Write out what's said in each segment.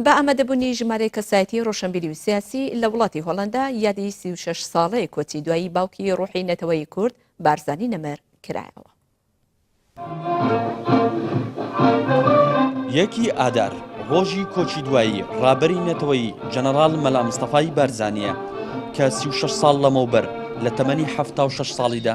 بە ئامادەبوونی ژمارەیەک کەسایەتیی ڕۆشنبیری و سیاسی لە وڵاتی هۆڵەندا، یادی سی و شەش ساڵەی کۆچی دوایی باوکی ڕووحی نەتەوەی کورد، بارزانی نەمر، کرایەوە. یەکی ئادار، ڕۆژی کۆچی دوایی ڕابەری نەتەوەیی جەنەڕاڵ مەلا مستەفای بارزانییە کە سی و شەش ساڵ لەمەوبەر لە تەمەنی حەفتا و شەش ساڵیدا،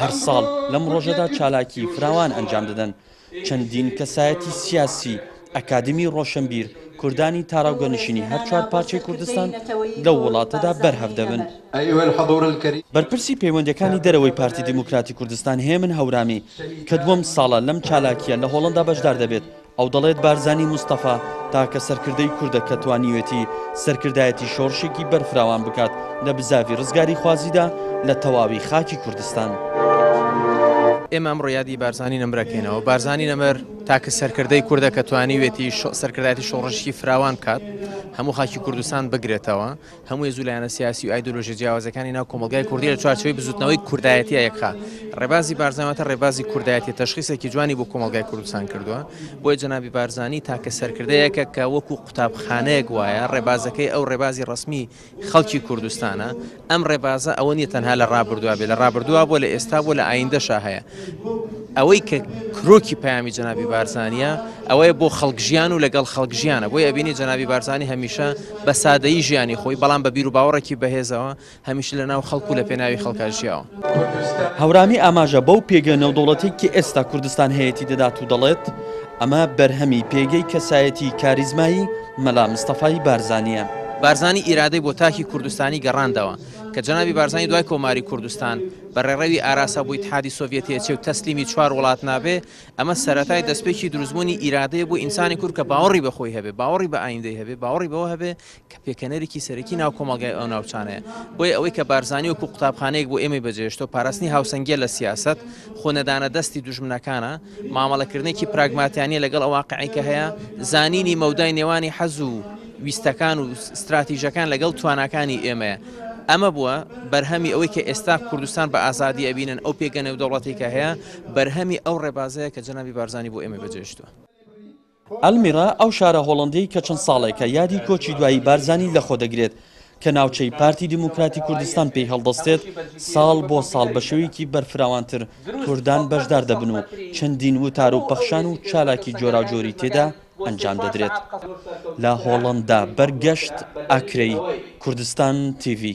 هەر ساڵ لەم ڕۆژەدا چالاکی فراوان ئەنجام دەدەن چەندین کەسایەتی سیاسی، ئەکادمی ڕۆشنبیر، کوردانی تاراوگە نشینی هەر چوار پارچەی کوردستان لەو وڵاتەدا بەرهەڤ دەبن. بەرپرسی پەیوەندیەکانی دەرەوەی پارتی دیموکراتی کوردستان هێمن هەورامی کە دووەم ساڵە لەم چالاکیە لە هۆڵەندا بەشدار دەبێت ئەو دەڵێت بارزانی مستەفا تاکە سەرکردەی کوردە کە توانیوێتی سەرکردایەتی شۆڕشێکی بەرفراوان بکات لە بزاڤی ڕزگاریخوازیدا لە تەواوی خاکی کوردستان. ئێمە ئەمڕۆ یادی بارزانی نەمر ئەکەینەوە، بارزانی نەمر تاکە سەرکردەی کوردە کە توانیوێتی سەرکردایەتی شۆڕشی فراوان بکات، هەموو خاکی کوردستان بگرێتەوە، هەموو هێز و لایەنە سیاسی و ئایدۆلۆژیە جیاوازەکانی ناو کۆمەڵگای کوردی لە چوارچێوەی بزوتنەوەی کوردایەتیە یەکخا ڕێبازی بارزانواتە ڕێبازی کوردایەتی تەشخیسێکی جوانی بۆ کۆمەڵگای کوردستان کردووە بۆیە جەنابی بارزانانی تاکە سەرکردەیەکە کە وەکو قوتابخانەیەک وایە ڕێبازەکەی ئەو ڕێبازی ڕسمی خەڵکی کوردستانە ئەم ڕێبازە ئەوە نیە تەنها لە ڕابردووە بێ لە ڕابردووە بۆ لە ئێستا بۆ لە ئایندەشا هەیە ئەوەی کە کرۆکی پەیامی جەنابی بارزانییە ئەوەیە بۆ خەڵک ژیان و لەگەڵ خەڵک ژیانە بۆی ئەبینی جەنابی بارزانانی هەمیشە بە سادەیی ژیانی خۆی بەڵام بە بیر و باوەڕێکی بەهێزەوە هەمیشە لە ناو خەڵک و لە پێناوی خەڵکا ژیاوە. هەورامی ئاماژە بەو پێگە نێودەوڵەتێکی ئێستا کوردستان هەیەتی دەدات و دەڵێت، ئەمە بەرهەمی پێگەی کەسایەتیی کاریزمایی مەلا مستەفای بارزانییە. بارزانی ئیرادەی بۆ تاکی کوردستانی گەڕاندەوە، کە جەنابی بارزانی دوای کۆماری کوردستان، بە ڕێڕەوی ئاراسا بۆ ئیتحادی سۆڤیەت دێچێ و تەسلیمی چوار وڵات نابێ، ئەمە سەرەتای دەستپێکی دروستبوونی ئیرادەیە بۆ ئینسانی کورد کە باوەڕی بە خۆی هەبێ، باوەڕی بە ئایندەی هەبێ، باوەڕی بەوە هەبێ کە پێکەنەرێکی سەرەکی ناو کۆمەڵگای ئەو ناوچانەیە. بۆیە ئەوەی کە بارزانی وەکوو قوتابخانەیەک بۆ ئێمەی بەجێهێشتووە، پاراستنی هاوسەنگییە لە سیاسەت، خۆ نەدانە دەستی دوژمنەکانە، مامەڵەکردنێکی پراگماتیانە لەگەڵ ئەو واقعەی کە هەیە، زانینی مەودای نێوانی حەز و، ویستەکان و ستراتیژەکان لەگەڵ تواناکانی ئێمەیە. ئەمە بووە بەرهەمی ئەوەی کە ئێستا کوردستان بە ئازادی ئەبینن، ئەو پێگە نێودەوڵەتەی کە هەیە بەرهەمی ئەو ڕێبازەیە کە جەنابی بارزانی بۆ ئێمەی بەجێهێشتووە. ئەلمیرا ئەو شارە هۆڵەندەی کە چەند ساڵێکە یادی کۆچی دوایی بارزانی لەخۆدەگرێت، کە ناوچەی پارتی دیموکراتی کوردستان پێی هەڵدەستێت، ساڵ بۆ ساڵ بە شێوەیەکی بەرفراوانتر کوردان بەشدار دەبن و چەندین وتار و پەخشان و چالاکی جۆراوجۆری تێدا ئەنجام دەدرێت لە هۆڵەندا، بەرگەشت ئاکرەیی، کوردستان تیڤی.